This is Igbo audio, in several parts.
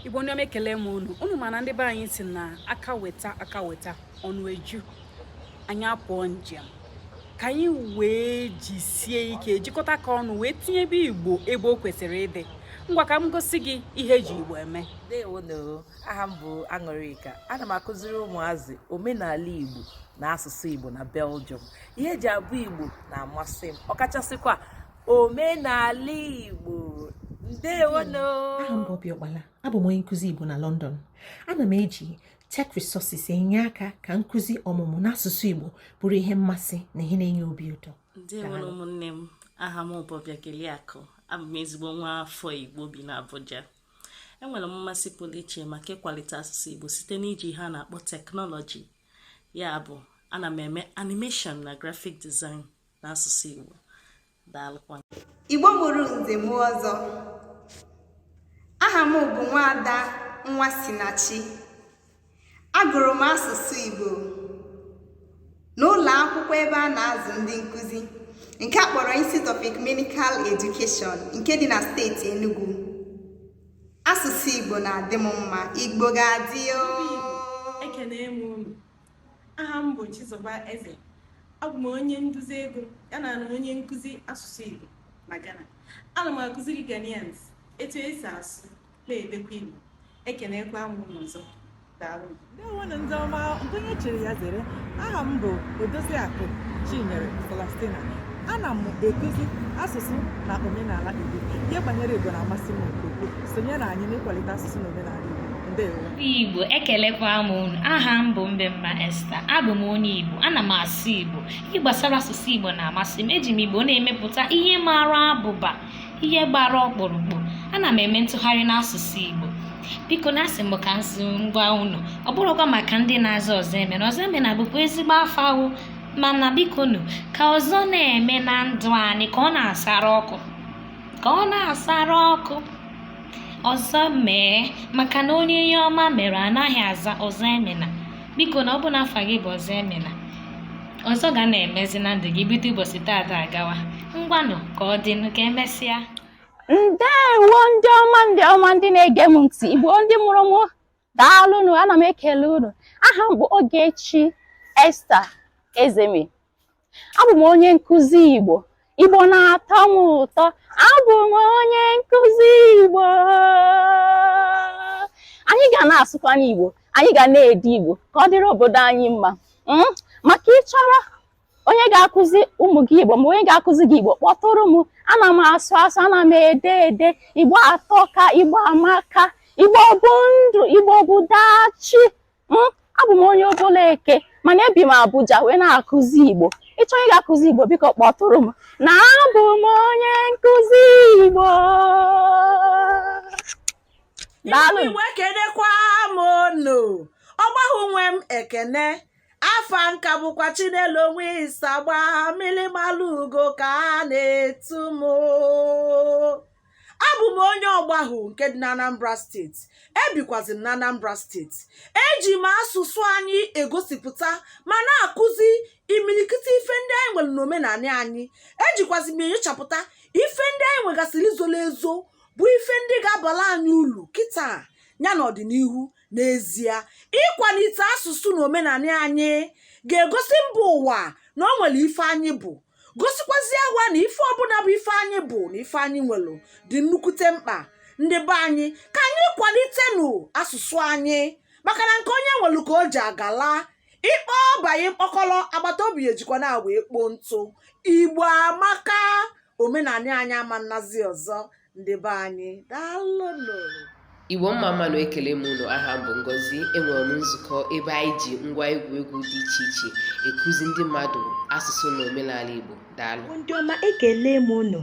igbo ndị ọma ekele m unu unu ma na ndị be anyị si na aka weta aka weta ọnụ eju anyị apụọ njem ka anyị wee jisie ike jikọta aka ọnụ wee tinyebe igbo ebe o kwesịrị ịdị ngwa ka m gosi gị ihe eji igbo eme ndewonụ aha m bụ aṅụrịka ana m akụziri ụmụazị omenala igbo na asụsụ igbo na belgium ihe eji abụ igbo na-amasị m ọkachasịkwa omenala igbo ndewonụ aha m bụ Obi Ọkpala abụ m onye nkụzi igbo na London ana m eji Tech Resources enye aka ka nkụzi ọmụmụ n'asụsụ igbo bụrụ ihe mmasị na ihe na-enye obi ụtọ ndewonụ ụmụnne m aha m bụ Obiageliakụ abụ m ezigbo nwa afọ igbo bi na Abuja enwere m mmasị pụrụ iche maka ịkwalite asụsụ igbo site n'iji ihe a na-akpọ teknọlọji ya bụ ana m eme animation na graphic design n'asụsụ Igbo daalụkwa Igbo mụrụ nze mụọ ọzọ aha m bụ nwaada Nwasinachi agụrụ m asụsụ Igbo n'ụlọ akwụkwọ ebe a na-azụ ndị nkụzi nke a kpọrọ Institute of Ecumenical Education nke dị na steeti Enugu asụsụ Igbo na-adị m mma Igbo ga-adị o Aha m bụ Chizoba Eze. Abụ m onye nduzi ego ya na na onye nkụzi asụsụ Igbo na Ghana. Ana m akụziri Ghanaians etu esi asụ na-edekwa Igbo. Ekenekwa m unu ọzọ. Daalụ. ndewonụ ndị ọma nke onye chiri ya zere aha m bụ odoziakụ chinyere Celestina ana m ekuzi asụsụ na omenala Igbo ihe banyere Igbo na-amasị m nke ukwuu sonyere anyị n'ịkwalite asụsụ na omenala Igbo ndewo Igbo ekelekwa m unu aha m bụ Mbemma Esther abụ m onye Igbo ana m asụ Igbo ihe gbasara asụsụ Igbo na-amasị m eji m Igbo na-emepụta ihe mara abụba ihe gbara ọkpụrụkpụ ana m eme ntụgharị n'asụsụ Igbo bikonụ asị m ka m sị m gwa unu ọ bụrụkwa maka ndị na-aza Ọzọemena Ọzọemena bụkwa ezigbo afa o mana bikonụ ka ọzọ na-eme na ndụ anyị ka ọ na-asara ọkụ ka ọ na-asara ọkụ ọzọ mee maka na onye ihe ọma mere anaghị aza Ọzọemena bikonụ ọ bụ na afa gị bụ Ọzọemena ọzọ ga na-emezi na ndụ gị bido ụbọchị taata agawa ngwanụ ka ọ dịnụ ka emesịa ndewo ndị ọma ndị ọma ndị na-ege m ntị igbo ndị mụrụ m daalụnụ ana m ekele unu aha m bụ Ogechi Esther Ezeme abụ m onye nkụzi Igbo Igbo na-atọ m ụtọ abụ m onye nkụzi Igbo anyị ga na-asụkwanụ Igbo anyị ga na-ede Igbo ka ọ dịrị obodo anyị mma hmm? maka ị chọrọ onye ga-akụzi ụmụ gị igbo ma onye ga-akụzi gị igbo kpọtụrụ m ana m asụ asụ ana m ede ede igbo atọka igbo amaka igbo bụ ndụ igbo bụ dachi hmm? abụ m onye obollo eke mana ebi m abuja wee na-akụzi igbo ị chọọ onye ga-akụzi igbo biko kpọtụrụ m na abụ m onye nkụzi igbo daalụ igbo ekenekwa m unu ọgbahụ nwe m ekene afa m ka bụkwa chinelo onwe isagba mmili malụ ugo ka a na-etu m abụ m onye ọgbahụ nke dị n'anambra steeti ebikwazi m n'anambra steeti eji m asụsụ anyị egosipụta ma na-akụzi imilikiti ife ndị anyị nwere n'omenanị anyị ejikwazi m enyochapụta ife ndị anyị nwegasịrị zolo ezo bụ ife ndị ga-abala anyị ulu kịta ya n'ọdịnihu n'ezie ikwanite asụsụ na omenanị anyị ga-egosi mba ụwa na o nwere ife anyị bụ gosikwazie ụwa na ife ọbụna bụ ife anyị bụ na ife anyị nwere dị nnukwute mkpa ndị be anyị ka anyị kwanitenụ asụsụ anyị maka na nke onye nwere ka o ji agala ị kpọọ ọba gị mkpọkọrọ agbata obi ejikwa ya wee kpoo ntụ igbo amaka omenanị anyị ama nnazi ọzọ ndị be anyị daalụnụ igbo mma mmanụ ekele m unu aha m bụ ngozi enwere m nzukọ ebe anyị ji ngwa egwuregwu dị iche iche ekuzi ndị mmadụ asụsụ na omenala igbo daalụ ndị ọma ekele m unu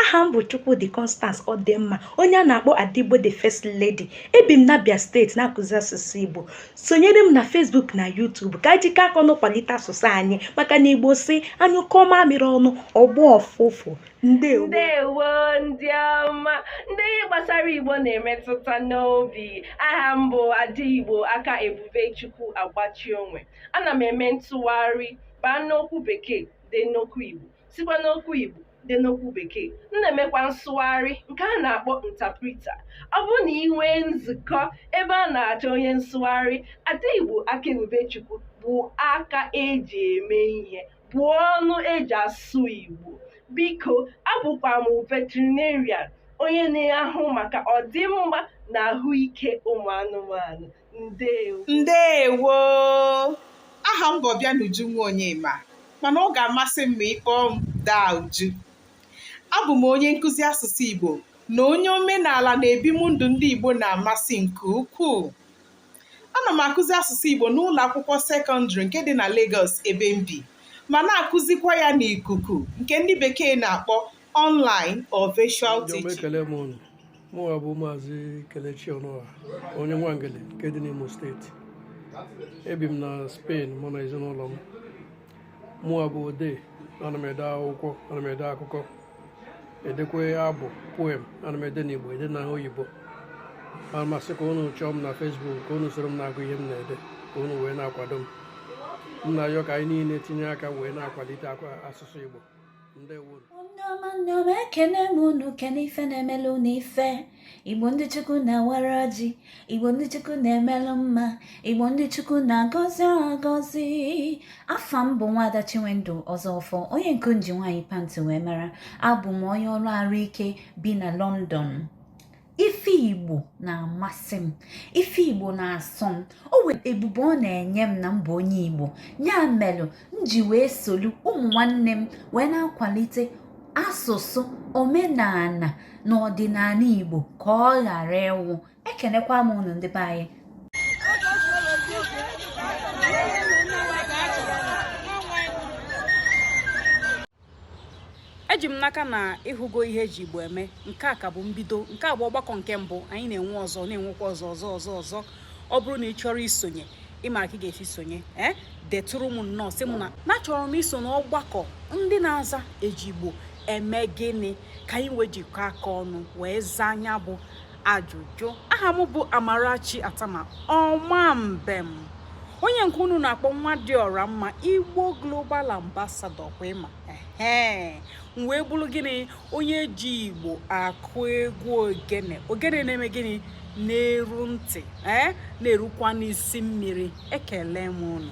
aha m bụ chukwudi constance ọdịmma onye a na-akpọ ada igbo the first lady ebi m n'abia steeti na-akụzi asụsụ igbo sonyere m na facebook na youtube ka anyị jikọọ aka ọnụ kwalite asụsụ anyị maka na igbo sị a nyụkọọ mamịrị ọnụ ọ gbọọ ụfụfụ ndewo ndewo ndị ọma ndị ihe gbasara igbo na-emetụta n'obi aha m bụ ada igbo aka ebube chukwu agbachi onwe ana m eme ntụgharị baa n'okwu bekee dee n'okwu igbo sikwa n'okwu igbo dee n'okwu bekee m na-emekwa nsụgharị nke a na-akpọ interpreter ọ bụrụ na ị nwee nzukọ ebe a na-achọ onye nsụgharị ada igbo aka ebube chukwu bụ aka eji eme ihe bụ ọnụ eji asụ Igbo. Biko, abụkwa m veterinarian, onye na-ahụ maka ọdịmma na ahụike ụmụ anụmanụ. Ndewo. Ndewo! Aha m bụ Ọbịanuju Nwaonyema mana ọ ga-amasị m ma ị kpọọ m Daa Uju. Abụ m onye nkụzi asụsụ Igbo na onye omenala na ebimndụ ndị Igbo na-amasị nke ukwuu. ana m akụzi asụsụ Igbo n'ụlọ akwụkwọ sekọndịrị nke dị na Lagos ebe m bi ma na-akụzikwa ya n'ikuku nke ndị bekee na-akpọ online or virtual teaching. mụwa bụ maazị Kelechi Ọnụọha onye Nwangele nke dị n'Imo steeti ebi m na Spain mụ na ezinụlọ m mụwa bụ odee ana m ede akwụkwọ ana m ede akụkọ edekwe abụ poem ana m ede n'igbo ede na oyibo ana m asị ka unu chọọ m na facebook ka unu soro m na-agụ ihe m na-ede ka unu wee na-akwado m m na-ayọ ka anyị niile tinye aka wee na-akwalite asụsụ igbo ndewo ndị ọma ndị ọma ekene m unu kene ife na-emelu unu ife igbo ndị chukwu na-awara ọjị igbo ndị chukwu na-emelụ mma igbo ndị chukwu na-agọzi agọzi afa m bụ nwaada chinwendu ọzọfọ onye nke nji nwaanyị pantị wee mara abụ m onye ọrụ arụ ike bi na london ife igbo na-amasị m ife igbo na-asọ m o wee ebube ọ na-enye m na m bụ onye igbo ya melụ m ji wee solu ụmụ nwanne m wee na-akwalite asụsụ omenala na ọdịnala igbo ka ọ ghara ịnwụ ekenekwa m unu ndị be anyị eji m n'aka na ị hụgo ihe eji igbo eme nke a ka bụ mbido nke a bụ ọgbakọ nke mbụ anyị na-enwe ọzọ na-enwekwa ọzọ ọzọ ọzọ ọzọ ọ bụrụ na ị chọrọ isonye ị mara ka ị ga-esi sonye ee eh, detụrụ m nnọọ sị m na achọrọ m iso n'ọgbakọ ndị na-aza eji igbo eme gịnị ka anyị wee jikọọ aka ọnụ wee zaa nya bụ ajụjụ aha m bụ Amarachi Attamah ọma mbem onye nke unu na-akpọ nwa dị ọra mma Igbo Global Ambassador kwa ị ma ee m wee bụrụ gịnị onye ji Igbo akụ egwu ogene ogene na-eme gịnị na-eru ntị ee na-erukwa n'isi mmiri ekele m unu